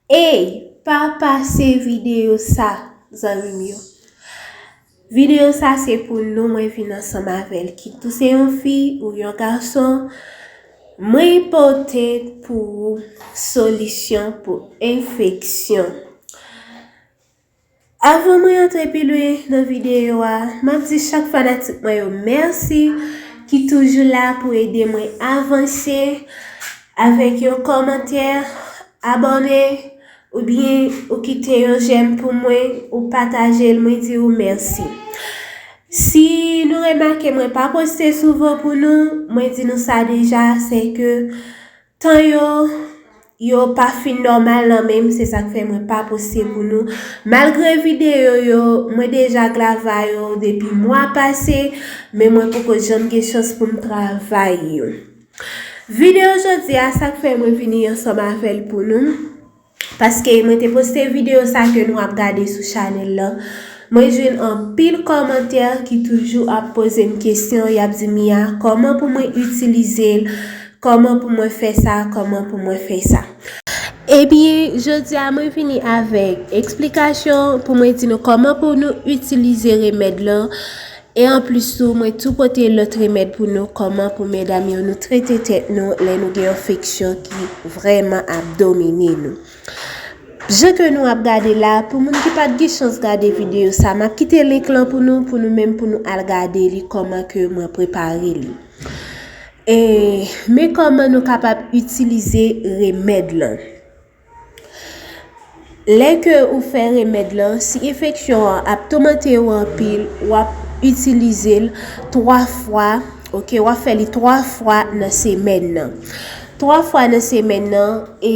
Eyy pa pase video sa zanmim yo. Video sa se pou nou mwen vin ansanm avèl kit ou se yon fi ou yon gason mwen pote pou ou solisyon pou enfeksyon. Avan mwen antre pi lwen nan videyo a, m ap di chak fanatik mwen yo mèsi ki toujou la pou ede mwen avanse avèk yon kòmantè, abòne, oubyen ou kite yon jèm pou mwen, ou pataje l, mwen di ou mèsi. Si nou remake mwen pa poste souvan pou nou, mwen di nou sa deja, se ke Tan yo yo pa fin nòmal nan menm se sak fè mwen pa poste pou nou malgre video yo mwen deja glava yo depi mwa pase men mwen poko janm gen chans poum travay yo. Video jodia sak fè mwen vini ansanm avèl pou nou. Paske mwen te poste video sa ke nou ap gade sou chanel lan, mwen jwenn anpil kòmantè ki toujou ap pozem kesyon yap di Mia kòman pou mwen itilizel, kòman pou mwen fè sa, kòman pou mwen fè sa. Epi jodia mwen vini avèk eksplikasyon pou mwen di nou kòman pou nou itilize remèd lan, E anplis tou mwen tou pote lòt remèd pou nou kòman pou medam yo nou trete tèt nou lè nou gen yon feksyon ki vrèman ap domine nou. Jan ke nou ap gade la, pou moun ki pat gen chans gade videyo sa, map kite link lan pou nou pou nou menm pou nou al gade li kòman ke mwen prepare li. E men kòman nou kapab itilize remèd lan. Lè ke ou fè remèd lan, si enfeksyon an ap toumante ou anpil, w ap itilize l 3 fwa, ok, w ap fè li 3 fwa nan semèn nan. 3 fwa nan semèn nan e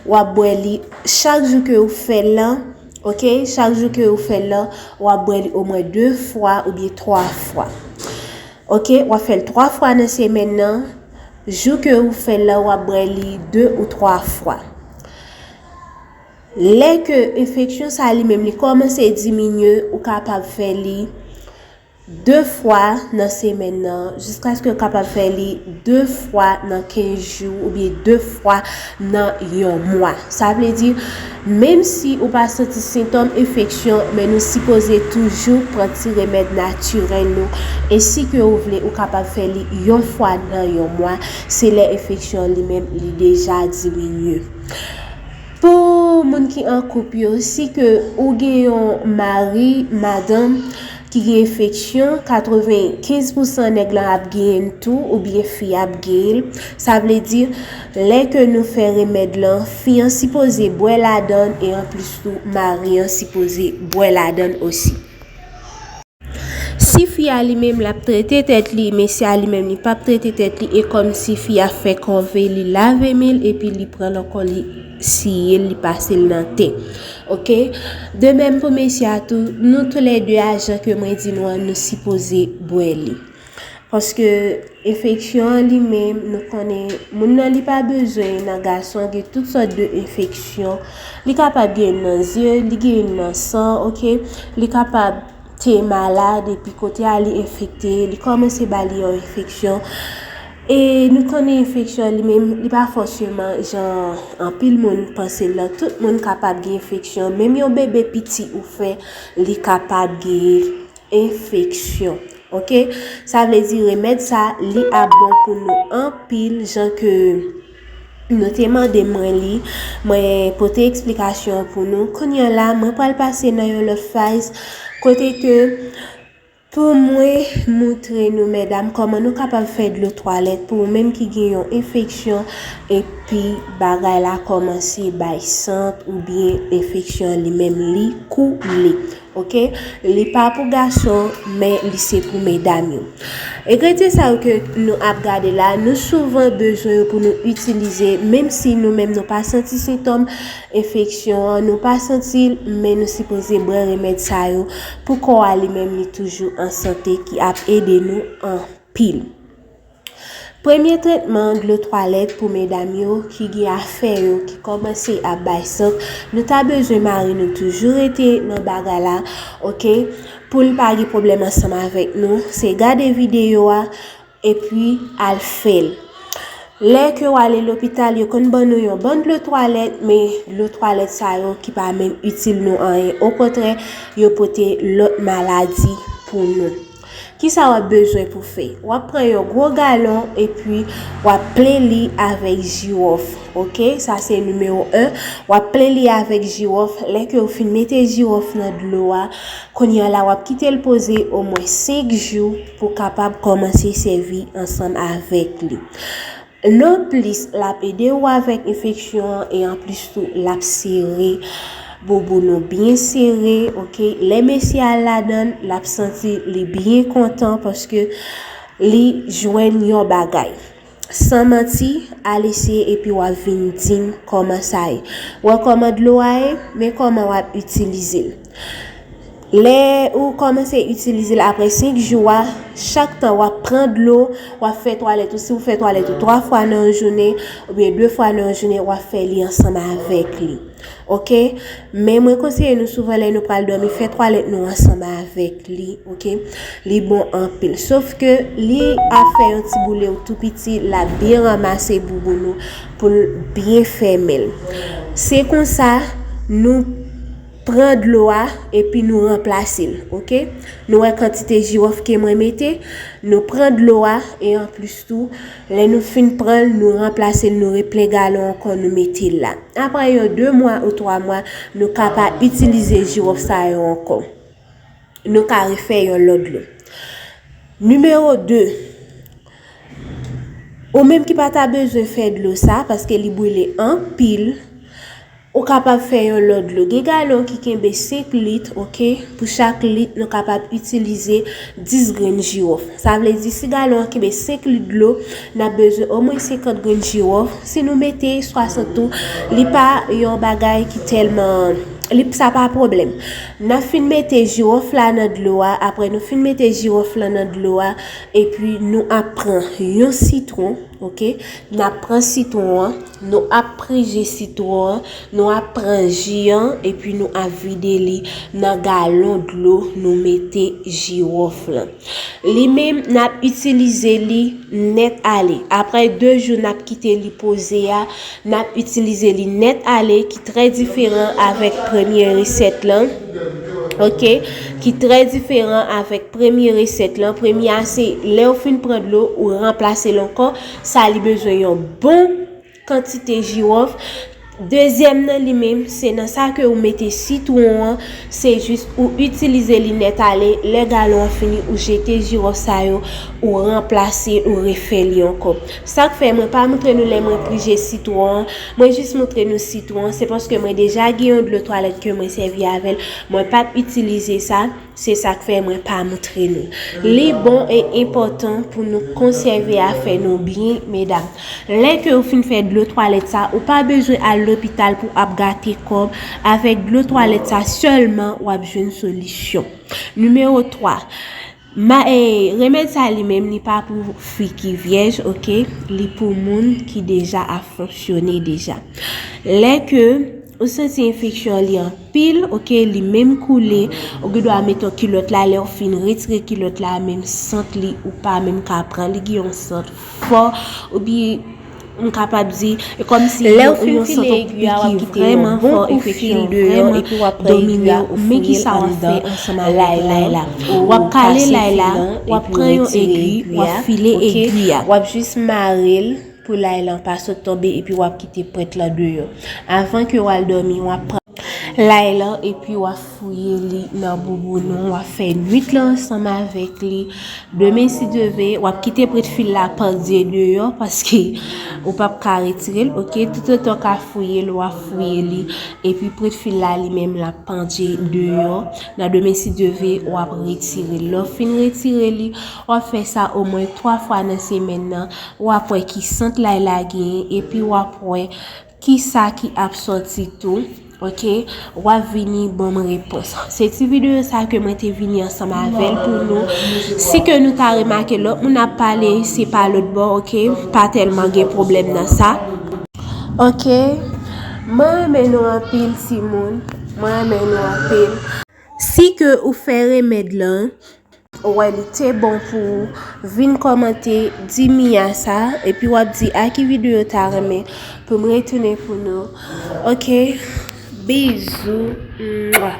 w ap bwè li chak jou ke ou fè l lan, ok, chak jou ke ou fè l lan, w ap bwè li omwen 2 fwa oubyen 3 fwa. Ok, w ap fè l 3 fwa nan semèn nan. Jou ke ou fè la ou ap bwè li 2 ou 3 fwa. Lè ke enfeksyon sa li menm li kòmanse diminye ou kapab fè li 2 fwa nan semèn nan jiskaske ou kapab fè li 2 fwa nan 15 jou oubyen 2 fwa nan yon mwa. Sa vle di, menm si ou pa santi sentòm enfeksyon, men nou sipoze toujou pran ti remèd natirèl nou. E si ke ou vle, ou kapab fè li yon fwa nan yon mwa, se lè enfeksyon li menm li deja diminye. Pou moun ki an koup yo, si ke ou gen yon mari, madanm, ki gen enfeksyon, 95 pousan nèg lan ap genyen l tou, oubyen fi a ap genyen l. Sa vle di, Lè ke nou fè remèd lan, fi an sipoze bwè ladann e anplis tou mari an sipoze bwè ladann osi. Si fi a li menm lap trete tèt li, mesye a li menm li pap trete tèt li e kòm si fi a fè kòve li lave men l epi li pran nan kò l li siye l li pase l nan te. Ok. De menm pou mesye a tou, nou tou lè 2 a jan ke mwen di nou an nou sipoze bwè li. Paske enfeksyon an li menm nou konnen moun nan li pa bezwen nan gason gen tout sòt de enfeksyon li kapab gen nan zye li gen nan san ok li kapab te malad epi kote a li enfekte li kòmanse ba li yon enfeksyon e nou konnen enfeksyon li menm li pa fòseman jan anpil moun panse l lan tout moun kapab gen enfeksyon menm yon bebe piti ou fè li kapab gen enfeksyon ok sa vle di remed sa li ap bon pou nou anpil jan ke nou te mande mwen li mwen pote eksplikasyon pou nou kounye la mwen pral pase nan yon lot faz kote ke pou mwen moutre nou medam koman nou kapab fè dlo twalet pou menm ki gen yon enfeksyon epi bagay la komanse bay sant oubyen enfeksyon li menm li koule. Ok li pa pou gason men li se pou medam yo egredyen sa yo ke nou ap gade la nou souvan bezwen yo pou nou itilize menm si nou menm nou pa santi sentòm enfeksyon an nou pa santi l men nou sipoze bwè remèd sa yo pou kò a li menm li toujou an sante ki ap ede nou anpil. Premye tretman dlo twalèt pou medam yo ki gen afè yo ki kòmanse ap bay sant nou ta bezwen mari nou toujou rete nan bagay la ok poul pa gen pwoblèm ansanm avèk nou se gade videyo a epi al fèl lè ke ou ale lopital yo konn ban nou yon bon dlo twalèt men dlo twalèt sa yo ki pa menm itil nou anyen okontrè yo pote lòt maladi pou nou. Kisa wap bezwen pou fè? Wap pran yon gwo galon epi wap plen li avèk jiwòf ok sa se nimewo 1 wap plen li avèk jiwòf lè ke ou fin mete jiwòf nan dlo a kounye a la wap kite l poze omwen 5 jou pou kapab kòmanse sèvi ansanm avèk li. Lè w plis l ap ede ou avèk enfeksyon an e anplis tou l ap sere bouboun ou byen sere ok lè mesye al ladan l l ap santi li byen kontan paske li jwenn yon bagay san manti al eseye epi w ap vin di m kòman sa ye wè kòman dlo a ye men kòman w ap itilize l. Lè ou kòmanse itilize l apre 5 jou a, chak tan w ap pran dlo, w ap fè twalèt ou, si w fè twalèt ou 3 fwa nan yon jounen, oubyen 2 fwa nan yon jounen, w ap fè li ansanm avèk li. Ok? Men mwen konseye nou souvan lè nou pral dòmi, fè twalèt nou ansanm avèk li. Ok? Li bon anpil. Sof ke li ap fè yon ti boule ou tou piti, l ap byen ranmase bouboun ou pou l byen fèmen l. Se konsa nou. Pran dlo a epi nou ranplase l ok nou wè kantite jirof ke mwen mete nou pran dlo a e anplis tou lè nou fin pran l nou ranplase l nou replen galon ankò nou mete l la aprè yon 2 mwa ou 3 mwa nou ka pa itilize jirof sa yo ankò nou ka refè yon lòt dlo Nimewo 2 ou menm ki pa ta bezwen fè dlo sa paske li brile anpil. Ou kapab fè yon lòt dlo. Gen galon ki kenbe 5 lit, ok. Pou chak lit, nou kapab itilize 10 grenn jiwòf. Sa vle di si galon an kenbe 5 lit dlo, n ap bezwen omwen 50 grenn jiwòf. Si nou mete 60 tou, li pa yon bagay ki tèlman, li, sa pa pwoblèm. N ap fin mete jiwòf la nan dlo a, apre nou fin mete jiwòf lan nan dlo a, epi nou ap pran yon sitwon, ok. N ap pran sitwon an. Nou ap pri ji sitwon an, nou ap pran ji an epi nou ap vide li nan galon dlo nou mete jiwòf lan. Li menm n ap itilize li nèt ale. Aprè 2 jou n ap kite li poze a, n ap itilize li nèt ale ki trè diferan avèk premye resèt lan. Ok, ki trè diferan avèk premye resèt lan. Premye a se lè ou fin pran dlo ou ranplase l ankò. sa li bezwen yon bon kantite jirof dezyèm nan li menm se nan sa ke ou mete sitwon an se jis ou itilize li nèt ale lè galon an fini ou jete jirof sa yo ou ranplase ou refè li ankò sak fè mwen pa moutre nou lè mwen prije sitwon an mwen jis moutre nou sitwon an se paske mwen deja gen yon dlo twalèt ke mwen sèvi avèl mwen pap itilize sa. Se sa k fè mwen pa moutre nou. Li bon e enpòtan pou nou konsève afè nou byen, medam. Lè ke ou fin fè dlo twalèt sa, ou pa bezwen al lopital pou ap gate kòb, avèk dlo twalèt sa sèlman w ap jwenn solisyon. Nimewo 3, Ma e, remèd sa li menm li pa pou fi ki vyèj, ok, li pou moun ki deja ap fonksyone deja. Lè ke. Ou santi enfeksyon an li anpil ok li menm koule ou gen dwa met yon kilòt la lèw fin retire kilòt la menm sant li ou pa menm ka pran li gen yon sant fò epi m kapab di e kòmsi gen yon sant anpil ki vreman fò enfeksyon vreman epi wap pran egwi a ou fouyel anndan lay la wap kale lay la wap pran yon egwi wap file egwi a wap jis marel. Pou lay lan pa sot tonbe epi wap kite prent lan deyò. Avan ke wal dòmi wap pran. Lay lan epi wap fouye li nan bouboun ou wap fè nwit lan ansanm avèk li. Demen si Dye ve, wap kite prent fil la pandye deyò paske ou pap ka retirel ok. Tout otan ou ka fouyel wap fouye li epi prent fil la li menm lap pandye deyò. Nan demen si Dye ve wap retirel. Lè ou fin retire li wap fè sa omwen 3 fwa nan semèn nan w ap wè ki sant lay la genyen epi w ap wè ki sa ki ap sòti tou ok w ap vini ban m repons se ti videyo sa ke mwen te vini ansanm avè l pou nou si ke nou ta remake lòt moun ap pale se pa lòt bò ok pa tèlman gen pwoblèm nan sa ok mwen renmen nou anpil ti moun mwen renmen nou anpil si ke ou fè remèd lan Ou wè li te bon pou ou vin kòmante di Mia sa epi wap di a ki video ou ta renmen pou m retounen pou nou ok bizou mwah.